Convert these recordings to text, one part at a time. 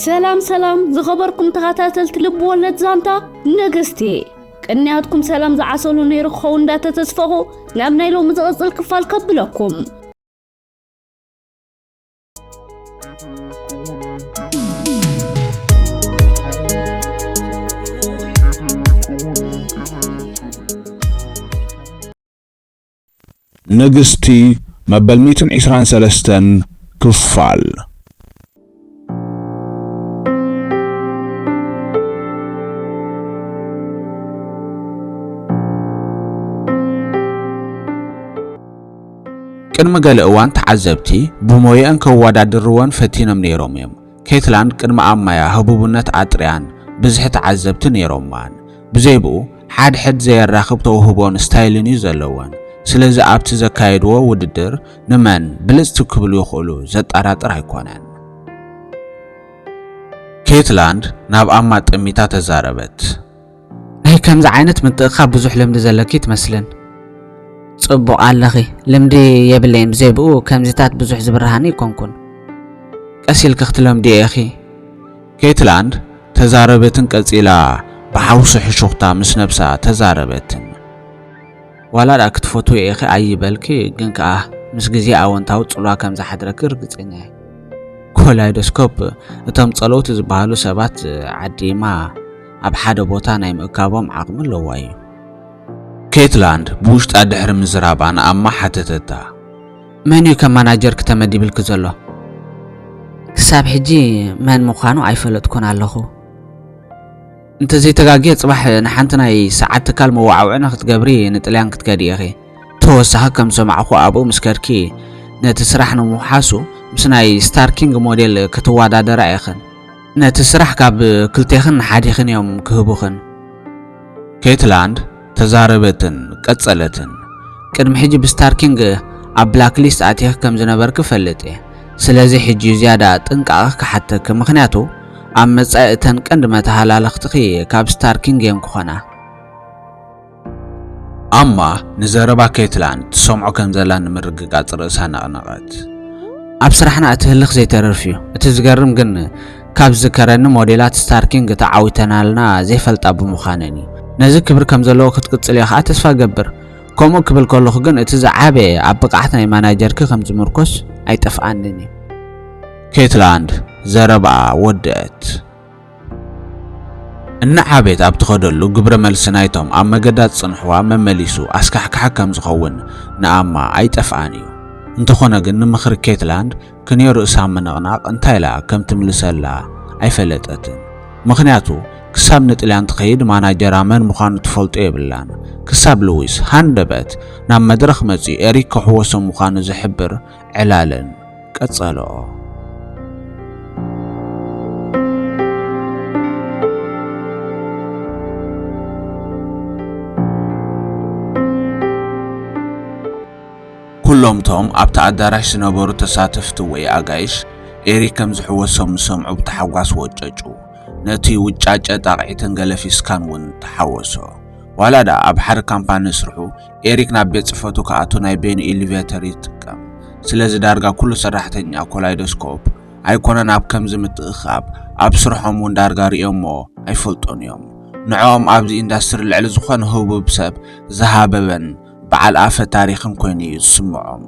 ሰላም ሰላም ዝኸበርኩም ተኸታተልቲ ልቢ ወለድ ዛንታ ነገስቲ ቅንያትኩም ሰላም ዝዓሰሉ ነይሩ ክኸውን እንዳተተስፈኹ ናብ ናይ ሎሚ ዝቕፅል ክፋል ከብለኩም ንግስቲ መበል ሚእትን ዒስራን ሰለስተን ክፋል። ቅድሚ ገለ እዋን ተዓዘብቲ ብሞየኣን ከወዳድርወን ፈቲኖም ነይሮም እዮም። ኬትላን ቅድሚ ኣብ ማያ ህቡብነት ኣጥርያን ብዝሒ ተዓዘብቲ ነይሮማን። ብዘይብኡ ሓድሕድ ዘየራኽብ ተውህቦን ስታይልን እዩ ዘለወን። ስለዚ ኣብቲ ዘካየድዎ ውድድር ንመን ብልጽቲ ክብሉ ይኽእሉ ዘጣራጥር ኣይኮነን። ኬትላን ናብ ኣማ ጠሚታ ተዛረበት። ናይ ከምዚ ዓይነት ምትእክካብ ብዙሕ ልምዲ ዘለኪ ትመስልን። ጽቡቕ ኣለኺ ልምዲ የብለይን ብዘይ ብኡ ከምዚታት ብዙሕ ዝብርሃኒ ኣይኮንኩን። ቀስ ኢልኪ ክትለምድዮ ኢኺ። ኬትላንድ ተዛረበትን ቀጺላ ብሓውሲ ሕሹኽታ ምስ ነብሳ ተዛረበትን። ዋላ ድኣ ክትፈትውዮ ኢኺ ኣይበልኪ ግን ከኣ ምስ ግዜ ኣወንታዊ ጽልዋ ከም ዝሓድረኪ ርግጸኛ እየ። ኮላይዶስኮፕ እቶም ጸለውቲ ዝበሃሉ ሰባት ዓዲማ ኣብ ሓደ ቦታ ናይ ምእካቦም ዓቕሚ ኣለዋ እዩ። ኬትላንድ ብውሽጣ ድሕሪ ምዝራባ ንኣማ ሓተተታ። መን እዩ ከም ማናጀርኪ ተመዲብልኪ ዘሎ? ክሳብ ሕጂ መን ምዃኑ ኣይፈለጥኩን ኣለኹ። እንተዘይተጋግየ ጽባሕ ንሓንቲ ናይ ሰዓት ትካል መወዓውዒ ንክትገብሪ ንጥልያን ክትከዲ ኢኺ። ተወሳኺ ከም ዝሰማዕኹ ኣብኡ ምስ ከድኪ ነቲ ስራሕ ንምውሓሱ ምስ ናይ ስታርኪንግ ሞዴል ክትወዳደራ ኢኽን። ነቲ ስራሕ ካብ ክልቴኽን ሓዲኽን እዮም ክህቡኽን። ኬትላንድ ተዛረበትን ቀጸለትን። ቅድሚ ሕጂ ብስታርኪንግ ኣብ ብላክሊስት ኣቲኺ ከም ዝነበርኪ እፈልጥ እየ። ስለዚ ሕጂ ዝያዳ ጥንቃቐ ክሓተኪ፣ ምኽንያቱ ኣብ መጻኢ እተን ቀንዲ መተሃላለኽትኺ ካብ ስታርኪንግ እየን ክኾና። ኣማ ንዘረባ ኬትላን ትሰምዖ ከም ዘላ ንምርግጋጽ ርእሳ ነቕነቐት። ኣብ ስራሕና እቲ ህልኽ ዘይተርፍ እዩ። እቲ ዝገርም ግን ካብ ዝዝከረኒ ሞዴላት ስታርኪንግ ተዓዊተናልና ዘይፈልጣ ብምዃነን እዩ። ነዚ ክብሪ ከም ዘለዎ ክትቅጽልዮ ከኣ ተስፋ እገብር። ከምኡ ክብል ከለኹ ግን እቲ ዝዓበየ ኣብ ብቕዓት ናይ ማናጀርኪ ከም ዝምርኮስ ኣይጠፍኣንን እዩ። ኬትላን ዘረባኣ ወደኣት። እናዓበየት ኣብ ትኸደሉ ግብረ መልሲ ናይቶም ኣብ መገዳ ዝጽንሕዋ መመሊሱ ኣስካሕካሒ ከም ዝኸውን ንኣማ ኣይጠፍኣን እዩ። እንተኾነ ግን ንምኽሪ ኬትላንድ ክንዮ ርእሳ ምንቕናቕ እንታይ ኢላ ከም ትምልሰላ ኣይፈለጠትን። ምኽንያቱ ክሳብ ንጥልያን ትኸይድ ማናጀራ መን ምዃኑ ትፈልጦ የብላን። ክሳብ ልዊስ ሃንደበት ናብ መድረኽ መጺኡ ኤሪክ ከሕወሶ ምዃኑ ዝሕብር ዕላልን ቀጸልኦ። ኩሎም እቶም ኣብቲ ኣዳራሽ ዝነበሩ ተሳተፍቲ ወይ ኣጋይሽ፣ ኤሪ ከም ዝሕወሶም ምስ ሰምዑ ብታሕጓስ ወጨጩ። ነቲ ውጫጨ ጣቕዒትን ገለፊስካን እውን ተሓወሶ። ዋላ ደኣ ኣብ ሓደ ካምፓኒ እስርሑ፣ ኤሪክ ናብ ቤት ጽፈቱ ክኣቱ ናይ በይኑ ኢሊቬተር ይጥቀም። ስለዚ ዳርጋ ኩሉ ሰራሕተኛ ኮላይዶስኮፕ ኣይኮነን ኣብ ከምዚ ምትእኽኻብ ኣብ ስርሖም እውን ዳርጋ ርእዮሞ ኣይፈልጡን እዮም። ንዕኦም ኣብዚ ኢንዳስትሪ ልዕሊ ዝኾነ ህቡብ ሰብ ዝሃበበን በዓል ኣፈ ታሪኽን ኮይኑ እዩ ዝስምዖም።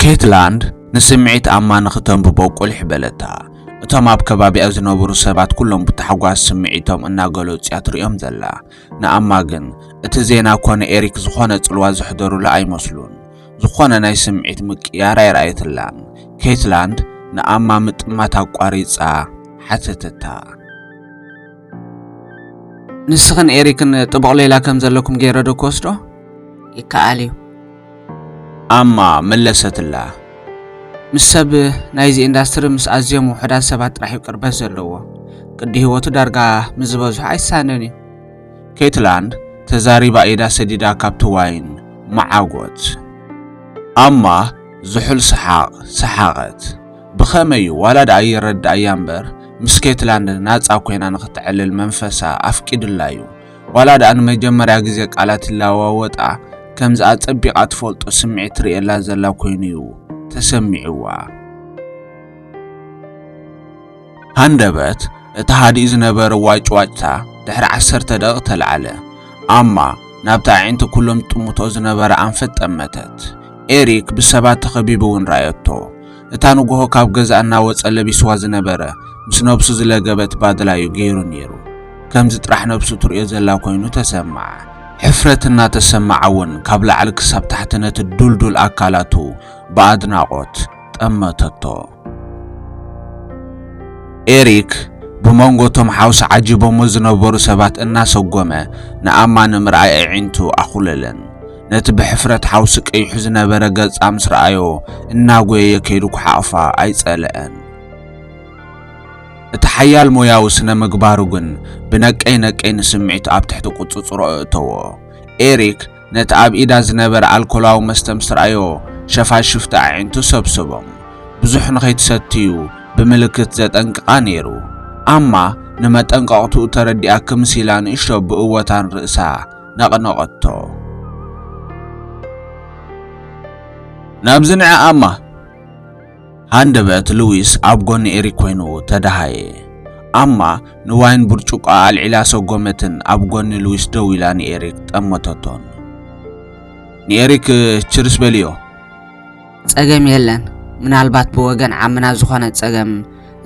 ኬትላንድ ንስምዒት ኣማ ንኽተንብቦ ቁሊሕ በለታ። እቶም ኣብ ከባቢኣ ዝነበሩ ሰባት ኩሎም ብታሕጓስ ስምዒቶም እናገለጹ እያ ትርእዮም ዘላ። ንኣማ ግን እቲ ዜና ኮነ ኤሪክ ዝኾነ ጽልዋ ዘሕደሩላ ኣይመስሉን። ዝኾነ ናይ ስምዒት ምቅያር ኣይረኣየትላን። ኬትላንድ ንኣማ ምጥማት ኣቋሪጻ ሓተተታ። ንስኽን ኤሪክን ጥቡቕ ሌላ ከም ዘለኩም ገይረ ዶ ክወስዶ? ይከኣል እዩ። ኣማ መለሰትላ። ምስ ሰብ ናይዚ ኢንዳስትሪ ምስ ኣዝዮም ውሑዳት ሰባት ጥራሕ'ዩ ቅርበት ዘለዎ። ቅዲ ህይወቱ ዳርጋ ምስ ዝበዝሑ ኣይሳነን'ዩ። ኬትላንድ ተዛሪባ ኢዳ ሰዲዳ ካብቲ ዋይን መዓጐት። ኣማ ዝሑል ሰሓቕ ሰሓቐት። ብኸመይ'ዩ? ዋላ ደኣ ይረድኣያ እምበር ምስ ኬትላንድ ናጻ ኰይና ንኽተዕልል መንፈሳ ኣፍቂዱላ'ዩ። ዋላ ደኣ ንመጀመርያ ግዜ ቃላት ይለዋወጣ ከምዚ ኣጸቢቓ ትፈልጦ ስምዒት ትርእየላ ዘላ ኮይኑ'ዩ ተሰሚዕዋ። ሃንደበት እቲ ሃዲኡ ዝነበረ ዋጭዋጭታ ድሕሪ ዓሰርተ ደቒቕ ተላዕለ። ኣማ ናብቲ ኣዒንቲ ኩሎም ትጥምቶ ዝነበረ ኣንፈት ጠመተት። ኤሪክ ብሰባት ተኸቢቡ'ውን ረኣየቶ። እታ ንጉሆ ካብ ገዛ እናወጸ ለቢስዋ ዝነበረ ምስ ነብሱ ዝለገበት ባድላዩ ገይሩ ነይሩ። ከምዚ ጥራሕ ነብሱ ትርእዮ ዘላ ኮይኑ ተሰማዓ። ሕፍረት እናተሰማዓ'ውን ካብ ላዕሊ ክሳብ ታሕቲ ነቲ ዱልዱል ኣካላቱ ብኣድናቖት ጠመተቶ። ኤሪክ ብመንጎ እቶም ሓውሲ ዓጂቦሞ ዝነበሩ ሰባት እናሰጎመ ንኣማ ንምርኣይ ኣዒንቱ ኣኹለለን። ነቲ ብሕፍረት ሓውሲ ቀይሑ ዝነበረ ገጻ ምስ ረኣዮ እናጎየየ ከይዱ ኩሓቕፋ ኣይጸለአን። እቲ ሓያል ሞያዊ ስነ ምግባሩ ግን ብነቀይ ነቀይ ንስምዒቱ ኣብ ትሕቲ ቁጽጽሮ እእተዎ። ኤሪክ ነቲ ኣብ ኢዳ ዝነበረ ኣልኮላዊ መስተ ምስ ረኣዮ ሸፋሽፍቲ ኣዒንቱ ሰብሰቦም። ብዙሕ ንኸይትሰትዩ ብምልክት ዘጠንቅቓ ነይሩ። ኣማ ንመጠንቀቕትኡ ተረዲኣ ክምስ ኢላ ንእሽቶ ብእወታን ርእሳ ነቕነቐቶ። ናብዚ ንዕኣ እማ ሃንደበት ሉዊስ ኣብ ጎኒ ኤሪክ ኮይኑ ተደሃየ። ኣማ ንዋይን ብርጭቆኣ ኣልዒላ ሰጎመትን ኣብ ጎኒ ሉዊስ ደው ኢላ ንኤሪክ ጠመተቶን። ንኤሪክ ችርስ በልዮ። ጸገም የለን ምናልባት ብወገን ዓምና ዝኾነ ጸገም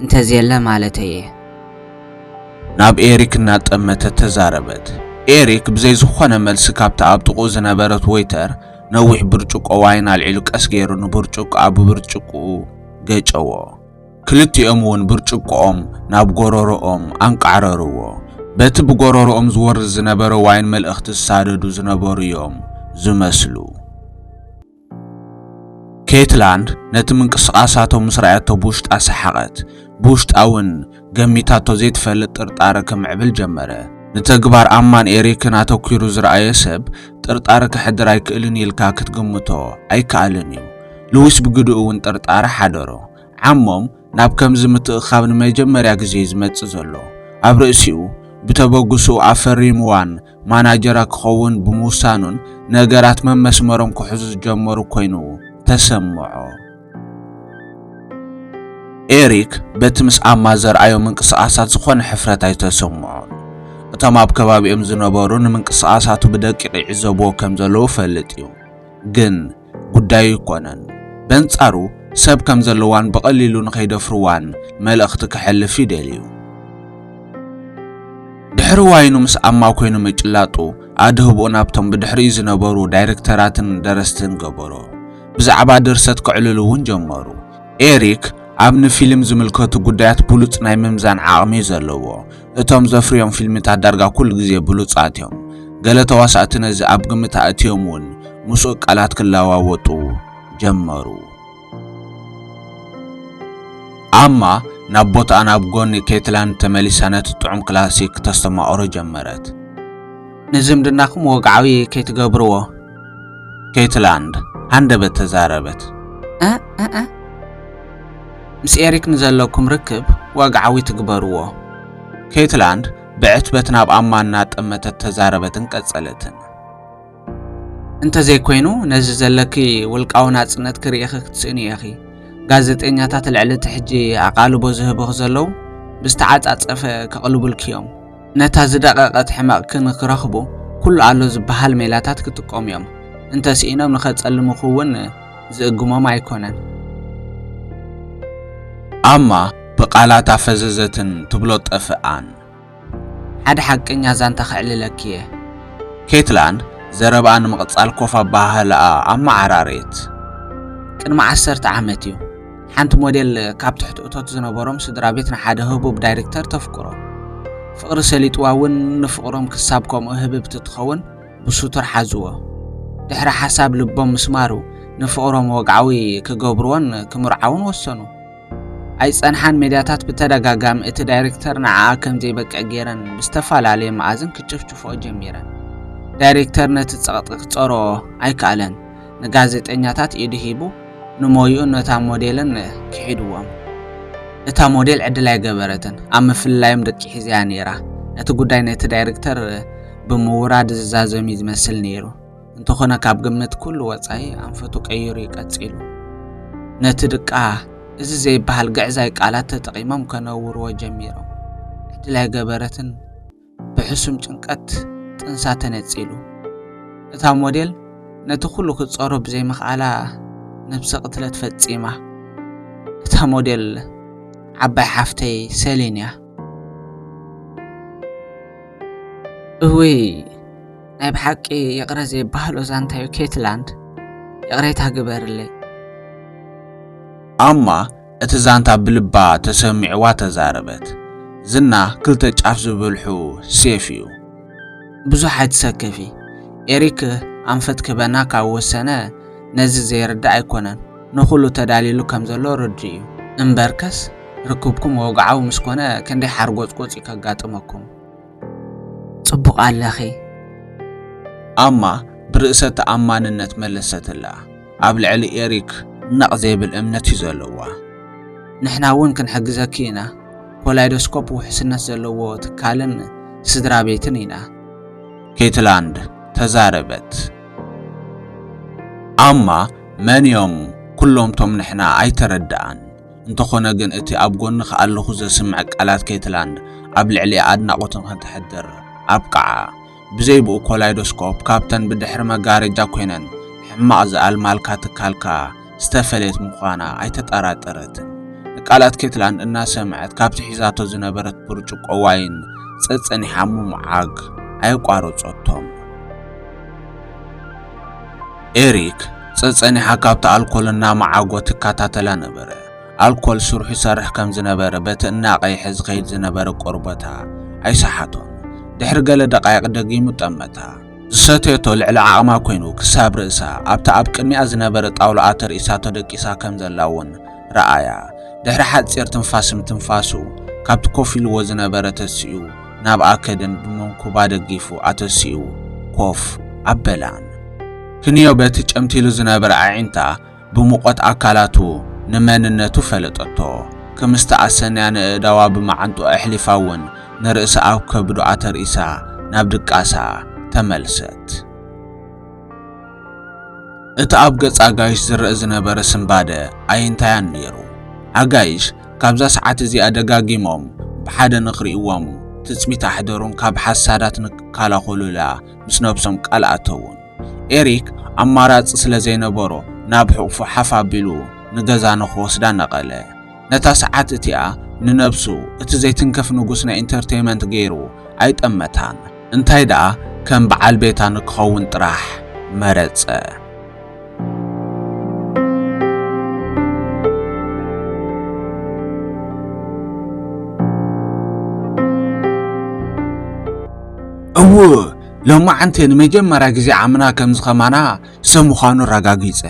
እንተዝየለ ማለተይ እየ። ናብ ኤሪክ እናጠመተት ተዛረበት። ኤሪክ ብዘይ ዝኾነ መልሲ ካብታ ኣብ ጥቕኡ ዝነበረት ወይተር ነዊሕ ብርጭቆ ዋይን ኣልዒሉ ቀስ ገይሩ ንብርጭቆኣ ብብርጭቅኡ ገጨዎ። ክልቲኦም እውን ብርጭቆኦም ናብ ጎረሮኦም ኣንቃዕረርዎ። በቲ ብጎረሮኦም ዝወርድ ዝነበረ ዋይን መልእኽቲ ዝሳደዱ ዝነበሩ እዮም ዝመስሉ። ኬትላንድ ነቲ ምንቅስቓሳቶም ምስ ረኣየቶ ብውሽጣ ሰሓቐት። ብውሽጣ እውን ገሚታቶ ዘይትፈልጥ ጥርጣረ ከምዕብል ጀመረ። ንተግባር ኣማን ኤሪክን ኣተኲሩ ዝረኣየ ሰብ ጥርጣረ ከሕድር ኣይክእልን እዩ ኢልካ ክትግምቶ ኣይከኣልን እዩ። ልዊስ ብግድኡ እውን ጥርጣረ ሓደሮ። ዓሞም ናብ ከምዚ ምትእኽኻብ ንመጀመርያ ግዜ እዩ ዝመጽእ ዘሎ። ኣብ ርእሲኡ ብተበግሶኡ ኣፈሪምዋን ማናጀራ ክኸውን ብምውሳኑን ነገራት መመስመሮም ክሕዙ ዝጀመሩ ኮይኑ ተሰምዖ። ኤሪክ በቲ ምስ ኣማ ዘርኣዮ ምንቅስቓሳት ዝኾነ ሕፍረት ኣይተሰምዖን። እቶም ኣብ ከባቢኦም ዝነበሩ ንምንቅስቓሳቱ ብደቂቕ ይዕዘብዎ ከም ዘለዉ እፈልጥ እዩ ግን ጉዳዩ ኣይኮነን። በንጻሩ ሰብ ከም ዘለዋን ብቐሊሉ ንኸይደፍርዋን መልእኽቲ ከሕልፍ ይደልዩ። ድሕሪ ዋይኑ ምስ ኣማ ኮይኑ ምጭላጡ ኣድህቦ ናብቶም ብድሕሪኡ ዝነበሩ ዳይረክተራትን ደረስትን ገበሮ። ብዛዕባ ድርሰት ከዕልሉ እውን ጀመሩ። ኤሪክ ኣብ ንፊልም ዝምልከቱ ጉዳያት ብሉጽ ናይ ምምዛን ዓቕሚ እዩ ዘለዎ። እቶም ዘፍርዮም ፊልምታት ዳርጋ ኩሉ ግዜ ብሉጻት እዮም። ገለ ተዋሳእቲ ነዚ ኣብ ግምት ኣእትዮም እውን ምስኡ ቃላት ክለዋወጡ ጀመሩ። ኣማ ናብ ቦታኣ ናብ ጎኒ ኬትላንድ ተመሊሳ ነቲ ጥዑም ክላሲክ ክተስተማቕሮ ጀመረት። ንዝምድናኹም ወግዓዊ ከይትገብርዎ። ኬትላንድ ሃንደበት ተዛረበት። ኣኣኣ ምስ ኤሪክ ንዘለኩም ርክብ ወግዓዊ ትግበርዎ። ኬትላንድ ብዕትበት ናብ ኣማ እናጠመተት ተዛረበትን ቀጸለትን። እንተዘይኮይኑ ነዚ ዘለኪ ውልቃዊ ናጽነት ክርእኺ ክትስእኒ ኢኺ። ጋዜጠኛታት ልዕሊ እቲ ሕጂ ኣቓልቦ ዝህብኺ ዘለዉ ብዝተዓጻጸፈ ከቕልቡልኪ እዮም። ነታ ዝደቐቐት ሕመቕክን ክረኽቡ ኩሉ ኣሎ ዝበሃል ሜላታት ክጥቀሙ እዮም። እንተ ስኢኖም ንኸጸልሙኺ እውን ዝእግሞም ኣይኮነን። ኣማ ብቃላት ኣፈዘዘትን ትብሎ ጠፍኣን። ሓደ ሓቀኛ ዛንታ ከዕልለኪ እየ። ኬትላን ዘረብኣ ንምቕጻል ኮፍ ኣበሃህላኣ ኣመዓራረየት። ቅድሚ ዓሰርተ ዓመት እዩ። ሓንቲ ሞዴል ካብ ትሕቲ እቶት ዝነበሮም ስድራ ቤት ንሓደ ህቡብ ዳይሬክተር ተፍቅሮ። ፍቕሪ ሰሊጥዋ እውን ንፍቕሮም ክሳብ ከምኡ ህብብቲ ትኸውን ብስቱር ሓዝዎ። ድሕሪ ሓሳብ ልቦም ምስማሩ ንፍቕሮም ወግዓዊ ክገብርዎን ክምርዓውን ወሰኑ። ኣይጸንሓን ሜድያታት ብተደጋጋሚ እቲ ዳይሬክተር ንዓኣ ከም ዘይበቅዕ ገይረን ብዝተፈላለየ መኣዝን ክጭፍጭፍኦ ጀሚረን። ዳይሬክተር ነቲ ጸቕጢ ክጸሮ ኣይከኣለን። ንጋዜጠኛታት ኢዱ ሂቡ ንሞይኡን ነታ ሞዴልን ክሒድዎም። እታ ሞዴል ዕድል ኣይገበረትን፣ ኣብ ምፍልላዮም ደቂ ሒዛ'ያ ነይራ። እቲ ጉዳይ ነቲ ዳይርክተር ብምውራድ ዝዛዘም'ዩ ዝመስል ነይሩ፣ እንተኾነ ካብ ግምት ኩሉ ወጻኢ ኣንፈቱ ቀይሩ'ዩ ቀጺሉ። ነቲ ድቃ እዚ ዘይበሃል ግዕዛይ ቃላት ተጠቒሞም ከነውርዎ ጀሚሮም። ዕድል ኣይገበረትን። ብሕሱም ጭንቀት ጥንሳ ተነጺሉ። እታ ሞዴል ነቲ ኩሉ ክትጸሮ ብዘይምኽኣላ ነብሰ ቅትለት ፈጺማ። እታ ሞዴል ዓባይ ሓፍተይ ሰሊን እያ። እውይ ናይ ብሓቂ ይቕረ ዘይበሃሎ ዛንታዩ ኬትላንድ ይቕሬታ ግበርለይ። ኣማ እቲ ዛንታ ብልባ ተሰሚዕዋ ተዛረበት። ዝና ክልተ ጫፍ ዝብልሑ ሴፍ እዩ። ብዙሕ ኣይትሰከፊ ኤሪክ ኣንፈት ክህበና ካብ ወሰነ ነዚ ዘይርዳእ ኣይኮነን ንኹሉ ተዳሊሉ ከም ዘሎ ርዱእ እዩ እምበርከስ ርክብኩም ወግዓዊ ምስ ኮነ ክንደይ ሓርጎጽጎጽ እዩ ከጋጥመኩም። ጽቡቕ ኣለኺ። ኣማ ብርእሰ ተኣማንነት መለሰትላ። ኣብ ልዕሊ ኤሪክ ነቕ ዘይብል እምነት እዩ ዘለዋ። ንሕና እውን ክንሕግዘኪ ኢና። ኮላይዶስኮፕ ውሕስነት ዘለዎ ትካልን ስድራ ቤትን ኢና። ኬትላንድ ተዛረበት። ኣማ መን እዮም ኵሎም'ቶም ንሕና? ኣይተረድኣን። እንተኾነ ግን እቲ ኣብ ጎንኺ ኣለኹ ዘስምዕ ቃላት ኬትላንድ ኣብ ልዕሊኣ ኣድናቖትን ከተሕድር ኣብቅዓ። ብዘይ ብኡ ኮላይዶስኮፕ ካብተን ብድሕሪ መጋረጃ ኰይነን ሕማቕ ዝኣልማልካ ትካልካ ዝተፈለየት ምዃና ኣይተጠራጠረትን። ንቃላት ኬትላንድ እናሰምዐት ካብቲ ሒዛቶ ዝነበረት ብርጭቆ ዋይን ጸጸኒሓ ምምዓግ ኣየቋረጸቶን። ኤሪክ ጸጸኒሓ ካብቲ ኣልኮል እናመዓጐ ትከታተላ ነበረ። ኣልኮል ስርሑ ይሰርሕ ከም ዝነበረ በቲ እናቐይሐ ዝኸይድ ዝነበረ ቆርበታ ኣይሰሓቶን። ድሕሪ ገለ ደቓይቕ ደጊሙ ጠመታ። ዝሰተየቶ ልዕሊ ዓቕማ ኰይኑ ክሳብ ርእሳ ኣብቲ ኣብ ቅድሚኣ ዝነበረ ጣውላኣ ተርኢሳ ተደቂሳ ከም ዘላ እውን ረኣያ። ድሕሪ ሓጺር ትንፋስ ምትንፋሱ ካብቲ ኮፍ ኢልዎ ዝነበረ ተሲኡ ናብኣ ከደን ብመንኩባ ደጊፉ ኣተሲኡ ኮፍ ኣበላን። ክንዮ በቲ ጨምቲሉ ዝነበረ ኣዒንታ ብሙቐት ኣካላቱ ንመንነቱ ፈለጠቶ። ክም ዝተኣሰንያ ነእእዳዋ ብመዓንጥኡ ኣሕሊፋ እውን ንርእሳ ኣብ ከብዱ ኣተርኢሳ ናብ ድቃሳ ተመልሰት። እቲ ኣብ ገጽ ኣጋይሽ ዝረኣ ዝነበረ ስንባደ ኣየንታያን ነይሩ። ኣጋይሽ ካብዛ ሰዓት እዚኣ ደጋጊሞም ብሓደ ንኽርእይዎም ትጽቢት ኣሕደሩን ካብ ሓሳዳት ንክከላኸሉላ ምስ ነብሶም ቃል ኣተዉን። ኤሪክ ኣማራጺ ስለ ዘይነበሮ ናብ ሕቝፉ ሓፍ ኣቢሉ ንገዛ ንኽወስዳ ነቐለ። ነታ ሰዓት እቲኣ ንነብሱ እቲ ዘይትንከፍ ንጉስ ናይ ኢንተርተይመንት ገይሩ ኣይጠመታን። እንታይ ደኣ ከም በዓል ቤታ ንክኸውን ጥራሕ መረጸ። እው ሎማዓንቲ ንመጀመርያ ግዜ ዓምና ከም ዝኸማና ሰብ ምዃኑ ኣረጋጊጸ።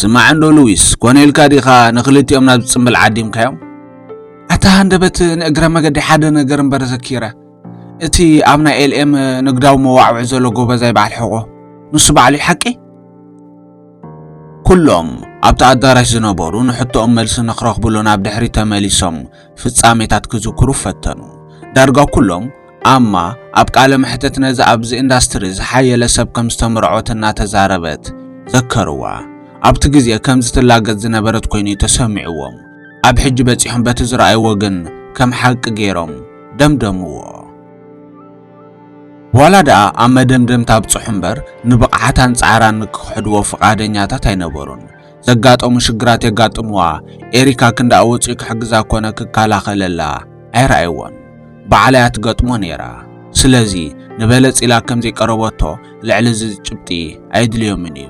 ስማዕንዶ ሉዊስ፣ ኮነ ኢልካ ዲኻ ንኽልቲኦም ናብ ዝጽምብል ዓዲምካዮም? ኣታ ሃንደበት ንእግረ መገዲ ሓደ ነገር እምበር ዘኪረ እቲ ኣብ ናይ ኤልኤም ንግዳዊ መዋዕውዒ ዘሎ ጎበዛይ በዓል ሕቆ ንሱ በዓሉ እዩ ሓቂ ኩሎም ኣብቲ ኣዳራሽ ዝነበሩ ንሕቶኦም መልሲ ንክረኽብሉ ናብ ድሕሪ ተመሊሶም ፍጻሜታት ክዝክሩ ፈተኑ ዳርጋ ኩሎም ኣማ ኣብ ቃለ መሕተት ነዚ ኣብዚ ኢንዳስትሪ ዝሓየለ ሰብ ከም ዝተመርዖት እናተዛረበት ዘከርዋ ኣብቲ ግዜ ከም ዝትላገጽ ዝነበረት ኮይኑ ተሰሚዕዎም ኣብ ሕጂ በጺሖም በቲ ዝረኣይዎ ግን ከም ሓቂ ገይሮም ደምደምዎ። ዋላ ደኣ ኣብ መደምደምታ ኣብጽሑ እምበር ንብቕዓታን ጻዕራን ክክሕድዎ ፍቓደኛታት ኣይነበሩን። ዘጋጠሙ ሽግራት የጋጥምዋ፣ ኤሪካ ክንድኣ ወጺኡ ክሕግዛ ኮነ ክከላኸለላ ኣይረኣይዎን። ባዕላ እያ ትገጥሞ ነይራ። ስለዚ ንበለጽ ኢላ ከም ዘይቀረበቶ ልዕሊ እዚ ጭብጢ ኣየድልዮምን እዩ።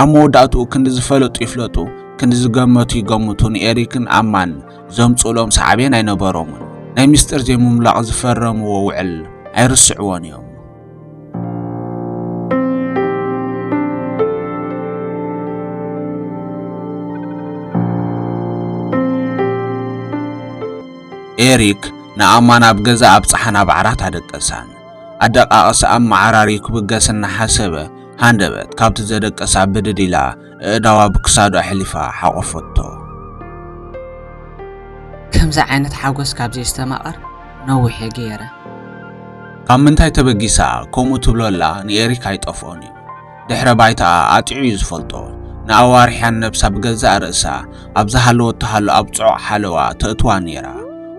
ኣብ መወዳእትኡ ክንዲ ዝፈለጡ ይፍለጡ ክንዲ ዝገመቱ ይገምቱ ንኤሪክን ኣማን ዘምጽኡሎም ሰዓቤን ኣይነበሮምን። ናይ ምስጢር ዘይምምላቕ ዝፈረምዎ ውዕል ኣይርስዕዎን እዮም። ኤሪክ ንኣማን ኣብ ገዛ ኣብጽሓን ኣብ ዓራት ኣደቀሳን። ኣደቃቕሳ ኣመዓራርዩ ክብገስ እናሓሰበ ሃንደበት ካብቲ ዘደቀሳ ብድድ ኢላ እእዳዋ ብክሳዱ ኣሕሊፋ ሓቖፈቶ። ከምዚ ዓይነት ሓጎስ ካብ ዘየስተማቕር ነዊሕ ገይረ። ካብ ምንታይ ተበጊሳ ከምኡ ትብሎ ኣላ ንኤሪክ ኣይጠፍኦን እዩ። ድሕረ ባይታኣ ኣጢዑ እዩ ዝፈልጦ። ንኣዋርሕያን ነብሳ ብገዛእ ርእሳ ኣብ ዝሃለወቶ ሃሎ ኣብ ጽዑቕ ሓለዋ ተእትዋ ነይራ።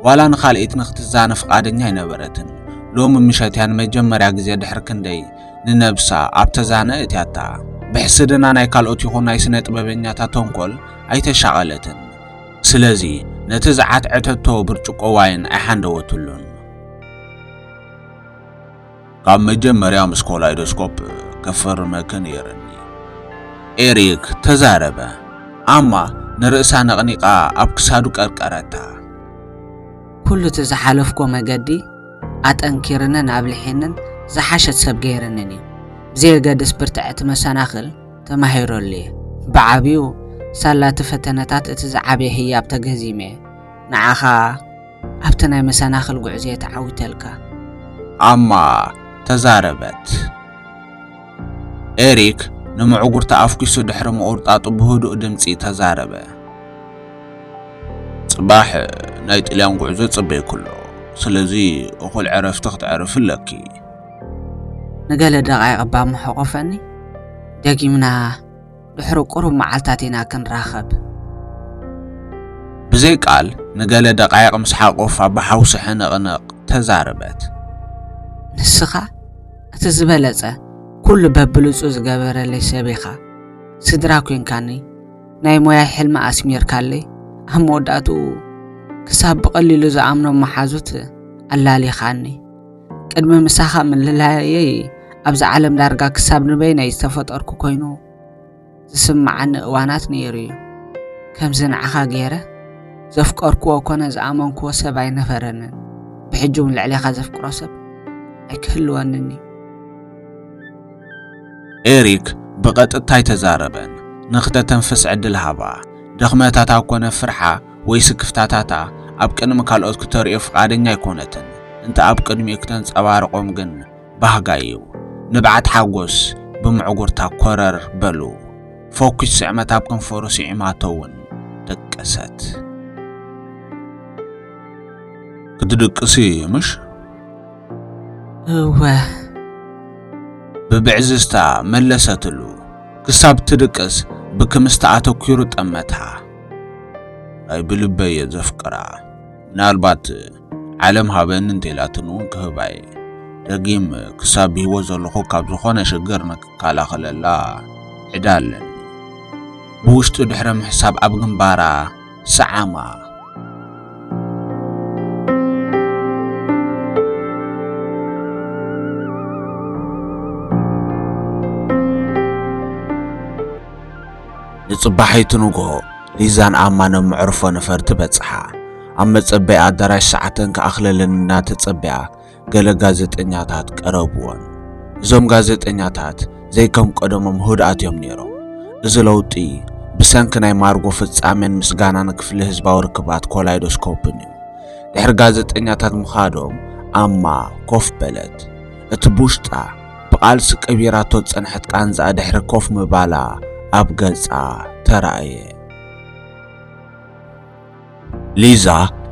ዋላ ንኻልኢት ንኽትዛነ ፍቓደኛ ኣይነበረትን። ሎሚ ምሸት እያ ንመጀመርያ ግዜ ድሕሪ ክንደይ ንነብሳ ኣብ ተዛነ እእትያታ። ብሕስድና ናይ ካልኦት ይኹን ናይ ስነ ጥበበኛታት ተንኮል ኣይተሻቐለትን። ስለዚ ነቲ ዝዓትዐተቶ ብርጭቆ ዋይን ኣይሓንደወትሉን። ካብ መጀመርያ ምስ ኮላይዶስኮፕ ክፍርመኪ ነይርኒ። ኤሪክ ተዛረበ። ኣማ ንርእሳ ነቕኒቓ ኣብ ክሳዱ ቀርቀረታ። ኩሉ እቲ ዝሓለፍኩዎ መገዲ ኣጠንኪርንን ኣብሊሒንን ዝሓሸት ሰብ ገይርንን እዩ። ብዘየገድስ ብርትዕቲ መሰናኽል ተማሂረሉ እየ። ብዓብዩ ሳላ እቲ ፈተነታት እቲ ዝዓበየ ህያብ ተገዚመ እየ። ንዓኻ ኣብቲ ናይ መሰናኽል ጉዕዝየ ተዓዊተልካ። ኣማ ተዛረበት። ኤሪክ ንምዕጉርታ ኣፍኲሱ ድሕሪ ምቑርጣጡ ብህዱእ ድምጺ ተዛረበ። ጽባሕ ናይ ጥልያን ጉዕዞ ጽበይኩ ኣሎ፣ ስለዚ እኹል ዕረፍቲ ክትዕርፊ ኣለኪ። ንገለ ደቓይቕ እባ ምሐቖፈኒ። ደጊምና። ድሕሪ ቁሩብ መዓልታት ኢና ክንራኸብ። ብዘይ ቃል ንገለ ደቓይቕ ምስ ሓቆፋ ብሓውሲ ሕንቕንቕ ተዛረበት። ንስኻ እቲ ዝበለጸ ኩሉ በብሉጹ ዝገበረለይ ሰብ ኢኻ። ስድራ ኴንካኒ ናይ ሞያይ ሕልሚ ኣስሚርካለይ ኣብ መወዳእትኡ ክሳብ ብቐሊሉ ዝኣምኖም መሓዙት ኣላሊኻኒ። ቅድሚ ምሳኻ ምልላየይ ኣብዚ ዓለም ዳርጋ ክሳብ ንበይነይ ዝተፈጠርኩ ኮይኑ ዝስምዓኒ እዋናት ነይሩ እዩ ከምዚ ንዓኻ ገይረ ዘፍቀርክዎ ኮነ ዝኣመንክዎ ሰብ ኣይነበረንን ብሕጂ እውን ልዕሌኻ ዘፍቅሮ ሰብ ኣይክህልወንን እዩ ኤሪክ ብቐጥታ ኣይተዛረበን ንክተተንፍስ ዕድል ሃባ ድኽመታታ ኮነ ፍርሓ ወይ ስክፍታታታ ኣብ ቅድሚ ካልኦት ክተርእዮ ፍቓደኛ ኣይኮነትን፣ እንተ ኣብ ቅድሚኡ ክተንጸባርቖም ግን ባህጋ እዩ። ንብዓት ሓጎስ ብምዕጉርታ ኮረር በሉ። ፎኪስ ስዕመት ኣብ ከንፈሩ ስዒማቶ እውን ደቀሰት። ክትድቅሲ ምሽ? እወ። ብብዕዝዝታ መለሰትሉ። ክሳብ ትድቅስ ብክምስታ ኣተኲሩ ጠመታ። ናይ ብልበይ እየ ዘፍቅራ ምናልባት ዓለም ሃበኒ እንተኢላትኒ እውን ክህባ እየ ደጊም ክሳብ ብሂወት ዘለኹ ካብ ዝኾነ ሽግር ንክከላኸለላ ዕዳ ኣለኒ ብውሽጡ ድሕሪ ምሕሳብ ኣብ ግንባራ ሰዓማ ንጽባሒቱ ንግሆ ሊዛን ኣማንን መዕርፎ ነፈርቲ በጽሓ። ኣብ መጸበዪ ኣዳራሽ ሰዓተን ክኣኽለለን እናተጸበያ ገለ ጋዜጠኛታት ቀረብወን። እዞም ጋዜጠኛታት ዘይከም ቀደሞም ህድኣት እዮም ነይሮም። እዚ ለውጢ ብሰንኪ ናይ ማርጎ ፍጻሜን ምስጋናን ክፍሊ ህዝባዊ ርክባት ኮላይዶስኮፕን እዩ። ድሕሪ ጋዜጠኛታት ምኻዶም ኣማ ኮፍ በለት። እቲ ብውሽጣ ብቓልሲ ቀቢራቶ ዝጸንሐት ቃንዛኣ ድሕሪ ኮፍ ምባላ ኣብ ገጻ ተራእየ። ሊዛ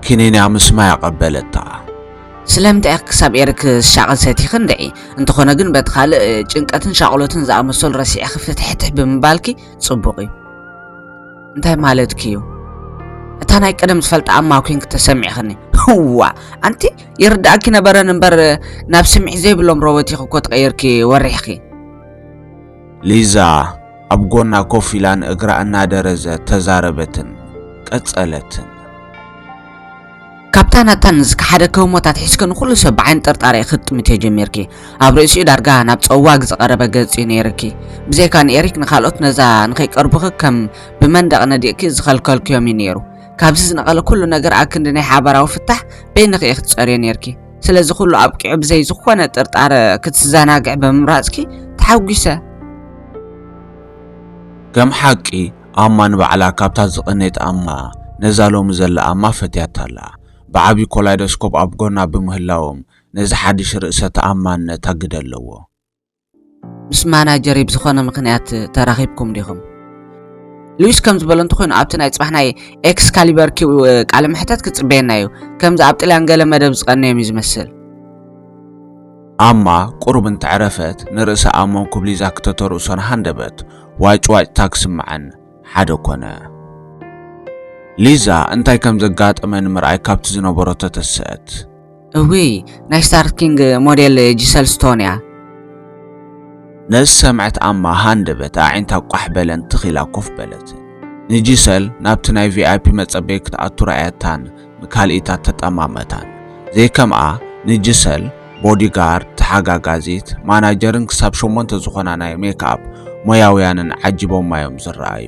ክኒን'ያ ምስማይ ኣቐበለታ። ስለምንታይ ኢኺ ክሳብ ኤርክ ዝሻቕል ሰቲኺ እንድዒ? እንተኾነ ግን በቲ ካልእ ጭንቀትን ሻቕሎትን ዝኣመሰሉ ረሲዕኺ ፍትሕትሕ ብምባልኪ ጽቡቕ'ዩ። እንታይ ማለትኪ እዩ እታ ናይ ቀደም ዝፈልጣ ኣማ ኮንክ ተሰሚዕኽኒ ህዋ ኣንቲ ይርዳእኪ ነበረን እምበር ናብ ስምዒ ዘይብሎም ሮቦት ኢኺ እኮ ተቐይርኪ ወሪሕኺ ሊዛ ኣብ ጎና ኮፍ ኢላ ንእግራ እናደረዘ ተዛረበትን ቀጸለትን ካብታ ናታ ንዝከሓደ ከህሞት ኣትሒዝኪ ንኹሉ ሰብ ብዓይኒ ጥርጣሬ ክትጥምትዮ ጀሚርኪ። ኣብ ርእሲኡ ዳርጋ ናብ ጸዋግ ዝቐረበ ገጽ'ዩ ነይርኪ። ብዘይካ ንኤሪክ ንኻልኦት ነዛ ንኸይቀርቡኺ ከም ብመንደቕ ነዲቕኪ ዝኸልከልክዮም'ዩ ነይሩ። ካብዚ ዝነቐለ ኩሉ ነገር ኣክንዲ ናይ ሓባራዊ ፍታሕ በይንኺ ኢኺ ትጸርዮ ነይርኪ። ስለዚ ኩሉ ኣብቂዑ ብዘይ ዝኾነ ጥርጣረ ክትዘናግዒ ብምምራጽኪ ተሓጒሰ። ከም ሓቂ ኣማ ንባዕላ ካብታ ዝቐነየት ኣማ ነዛ ሎሚ ዘላ ኣማ ፈትያታ ኣላ። ብዓቢ ኮላይዶስኮፕ ኣብ ጎና ብምህላዎም ነዚ ሓድሽ ርእሰ ተኣማንነት ኣግደለዎ። ምስ ማናጀረይ ብዝኾነ ምኽንያት ተራኺብኩም ዲኹም? ሉዊስ ከም ዝበሎ እንተኾይኑ ኣብቲ ናይ ጽባሕ ናይ ኤክስካሊበር ኪው ቃለ መሕተት ክጽበየና እዩ። ከምዚ ኣብ ጥልያን ገለ መደብ ዝቐነዮም እዩ ዝመስል። ኣማ ቁሩብ እንተዕረፈት ንርእሳ ኣሞን ኩብሊዛ ክተተርእሶን ሃንደበት። ዋጭዋጭታ ክስምዐን ሓደ ኮነ። ሊዛ እንታይ ከም ዘጋጠመ ንምርኣይ ካብቲ ዝነበሮ ተተሰአት። እውይ ናይ ስታር ኪንግ ሞዴል ጂሰል ስቶን እያ። ነዚ ሰምዐት ኣማ ሃንደበት ኣዒንታ ቋሕ በለን ትኽ ኢላ ኮፍ በለትን። ንጂሰል ናብቲ ናይ ቪኣይፒ መጸበዪ ክትኣቱ ረኣያታን ንካልኢታት ተጠማመታን ዘይከምኣ ንጅሰል፣ ቦዲ ጋርድ፣ ተሓጋጋዚት፣ ማናጀርን ክሳብ ሸሞንተ ዝኾና ናይ ሜክኣፕ ሞያውያንን ዓጂቦማ'ዮም ዝረኣዩ።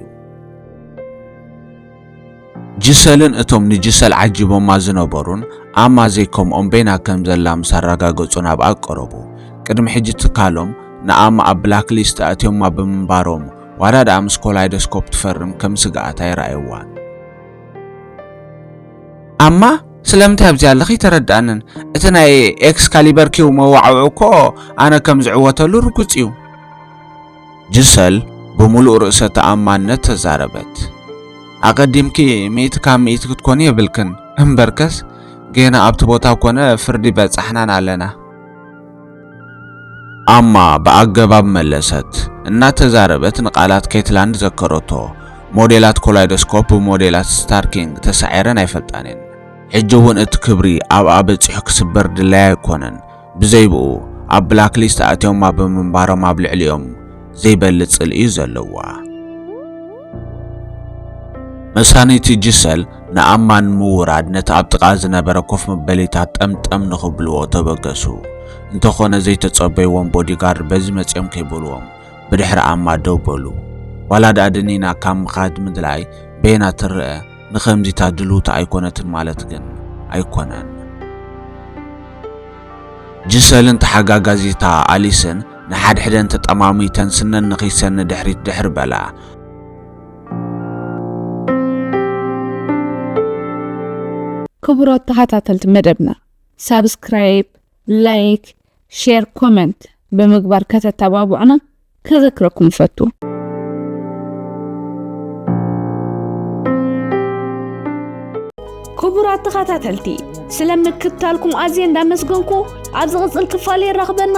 ጅሰልን እቶም ንጅሰል ዓጂቦማ ዝነበሩን ኣማ ዘይከምኦም በይና ከም ዘላ ምስ ኣረጋገጹ ናብኣ ቀረቡ። ቅድሚ ሕጂ ትካሎም ንኣማ ኣብ ብላክ ሊስት ኣእትዮማ ብምንባሮም ዋላ ደኣ ምስ ኮላይዶስኮፕ ትፈርም ከም ስግኣት ኣይረኣዩዋን። ኣማ ስለምንታይ ኣብዚ ኣለኺ ተረድኣንን እቲ ናይ ኤክስካሊበር ኪው መዋዕውዑ እኮ ኣነ ከም ዝዕወተሉ ርጉጽ እዩ ጅሰል ብምሉእ ርእሰ ተኣማንነት ተዛረበት ኣቐዲምኪ ሚእቲ ካብ ሚእቲ ክትኮኒ የብልክን እምበርከስ ጌና ኣብቲ ቦታ ኮነ ፍርዲ በጻሕናን ኣለና ኣማ ብኣገባብ መለሰት። እናተዛረበት ንቓላት ኬትላንድ ዘከረቶ። ሞዴላት ኮላይዶስኮፕ ብሞዴላት ስታርኪንግ ተሳዒረን ኣይፈልጣን እየን። ሕጂ እውን እቲ ክብሪ ኣብኣ በጺሑ ክስበር ድላይ ኣይኮነን። ብዘይብኡ ኣብ ብላክሊስት ኣእትዮማ ብምንባሮም ኣብ ልዕሊኦም ዘይበሊ ጽልኢ እዩ ዘለዋ። መሳኒቲ ጂሰል ንኣማ ንምውራድ ነቲ ኣብ ጥቓ ዝነበረ ኮፍ መበሊታት ጠምጠም ንኽብልዎ ተበገሱ። እንተኾነ ዘይተጸበይዎም ቦዲጋርድ በዚ መጺኦም ከይበልዎም ብድሕሪ ኣማ ደው በሉ። ዋላ ድኣ ድኒና ካብ ምኻድ ምድላይ በየና ትረኣ፣ ንኸምዚታ ድልውቲ ኣይኮነትን ማለት ግን ኣይኮነን። ጂሰልን ተሓጋጋዚታ ኣሊስን ንሓድሕደን ተጠማሚተን ስነን ንኺሰን ንድሕሪት ድሕር በላ። ክቡራት ተኸታተልቲ መደብና ሳብስክራይብ፣ ላይክ፣ ሼር፣ ኮመንት ብምግባር ከተተባብዑና ከዘክረኩም ይፈቱ። ክቡራት ተኸታተልቲ ስለ ምክትታልኩም ኣዝየ እንዳመስገንኩ ኣብ ዝቕፅል ክፋል የራኽበና።